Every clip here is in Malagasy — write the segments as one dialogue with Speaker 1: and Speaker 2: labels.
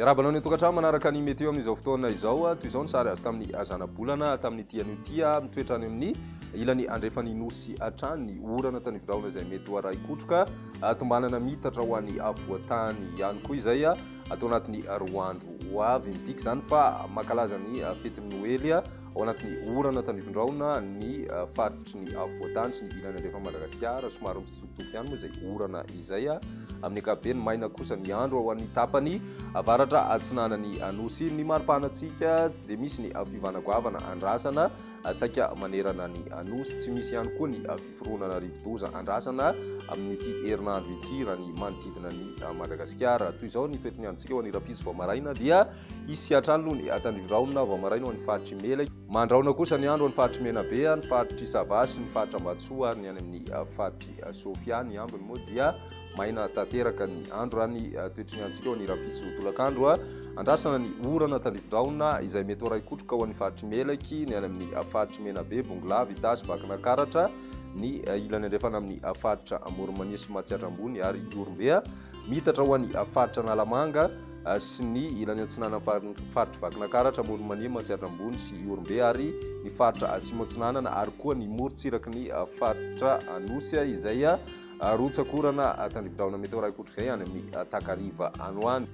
Speaker 1: Miarahaba anao ny an-tokantrano manaraka ny météo amin'izao fotoana izao. Toy izao ny sary azo tamin'ny zanabolana tamin'ny ity anio ity mitoetra any amin'ny ilany andrefan'ny nosy hatrany ny orana tany Viraona izay mety ho arahi-kotroka tombanana mitatra ho any avoantany ihany koa izay. atao anatin'ny roa andro ho avy. Midika izany fa mankalaza ny fetin'ny Noely ao anatin'ny orana tandrifin-drahona ny faritry ny afovoantany sy ny ilany andrefan'i Madagasikara. Somary mitsitokotoko ihany moa izay orana izay. Amin'ny ankapobeny, maina kosa ny andro ao amin'ny tapany avaratra atsinanan'ny Anosy. Ny maripana antsika tsy dia misy ny fiovana goavana andrasana saika manerana ny Anosy. Tsy misy ihany koa ny fironana rivodoza andrasana amin'ity herinandro ity raha ny manodidina ny Madagasikara. Toy izao ny toetiny androntsika ho an'ny rapiso vao maraina dia hisy siantrano aloha ny atandrivoraonina vao maraina ho an'ny faritry Mela. Mandraona kosa ny andro ho an'ny faritry Menabe, ny faritry Sava sy ny faritra Ambatsoa ary ny any amin'ny faritry Sofia. Ny ambiny moa dia Maina tanteraka ny andro raha ny toetry ny antsika ao ny rahampitso tolakandro. Andrasana ny orana tandrifin-drahona izay mety ho raikotroka ao amin'ny faritry Melaky, ny any amin'ny faritry Menabe, Bongolava, Itasy, Vakinakaratra, ny ilany andrefana amin'ny faritra Amorimania sy Matsiatra Ambony ary Ihorombe, miitatra ho an'ny faritra Analamanga sy ny ilany antsinana faritry Vakinakaratra, Amorimania, Matsiatra Ambony sy Ihorombe ary ny faritra Atsimo Atsinanana ary koa ny morontsiraky ny faritra Anosy izay Arotsaka orana tandrifin-drahona mety ho iray kotr'izay any amin'ny takariva any ho any.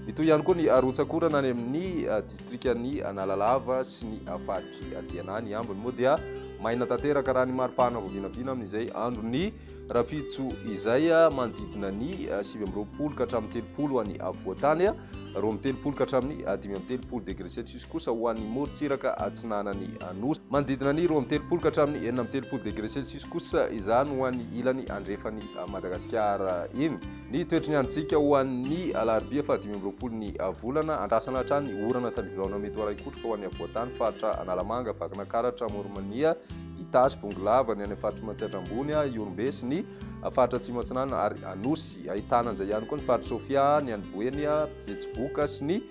Speaker 1: Mitohy ihany koa ny arotsaka orana any amin'ny distrikan'i Analalava sy ny faritry Diana ny ambiny moa dia maina tanteraka raha ny mari-pahana vao vinavina amin'izay andron'ny rahampitso izay manodidina ny sivy amby roapolo ka hatramin'ny telopolo any afovoan-tany. roa amby telopolo ka hatramin'ny dimy amby telopolo degré Celsius kosa ho an'ny morontsiraka atsinanan'ny Nosy. Manodidina ny roa amby telopolo ka hatramin'ny enina amby telopolo degré Celsius kosa izany ho an'ny ilany andrefan'i Madagasikara iny. Ny toetry ny androntsika ho an'ny alarobia fahadimy amby roapolo ny volana, andrasana hatrany orana tandriviraona mety ho arahin-kotroka ho an'ny afovoantany, faritra Analamanga, Vakinankaratra, Amoronmania, Itasy, Bongolava, ny any amin'ny faritry Matsiatra Ambony, Ihorombe sy ny Faritra Atsimo Atsinanana ary Anosy. Ahitana an'izay ihany koa ny Faritra Sofia, ny any Boeny, Betsiboka sy ny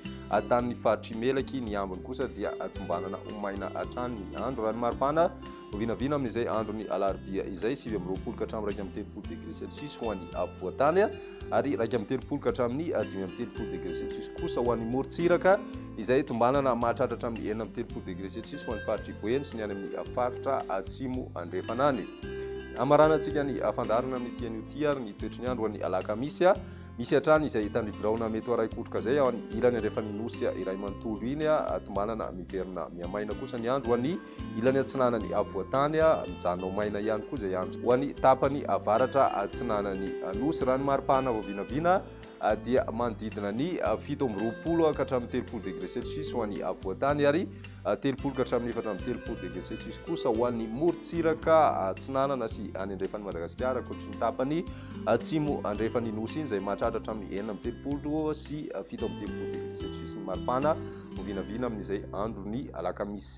Speaker 1: tanin'ny Faritr'i Melaky. Ny ambiny kosa dia tombanana ho maina hatrany ny andro. Raha ny maripana, ho vinavina amin'izay andron'ny alarobia izay, sivy amby roapolo ka hatramin'ny iraika amby telopolo degré Celsius ho an'ny afovoan-tany. ary iraika amby telopolo ka hatramin'ny dimy amby telopolo degré celsius kosa ho an'ny morontsiraka izay tombanana mahatratra hatramin'ny enina amby telopolo degré celsius ho an'ny faritr'i Boeny sy ny any amin'ny faritra atsimo andrefana any. Hamaranantsika ny fandaharana amin'ny ity anio ity ary ny toetry ny andro an'ny alakamisy misy hatrany izay tany biraona mety ho araikotroka izay ao any ilany andrefan'ny nosy iray manontolo iny tombanana miverina miamaina kosa ny andro an'ny Ilany atsinanan'i Avoatany, mijanona ho maina ihany koa izay andro. Ho an'ny tapany avaratra atsinanan'ny Nosy, raha ny maripahana vao vinavina dia manodidina ny fito amby roapolo ka hatramin'ny telopolo degre celsius ho an'i Avoatany ary telopolo ka hatramin'ny efatra amby telopolo degre celsius kosa ho an'ny morontsiraka atsinanana sy any andrefan'i Madagasikara, ankoatry ny tapany atsimo andrefan'ny Nosy iny izay mahatratra hatramin'ny enina amby telopolo sy fito amby telopolo degre celsius ny maripahana vao vinavina amin'izay andron'ny alakamisy.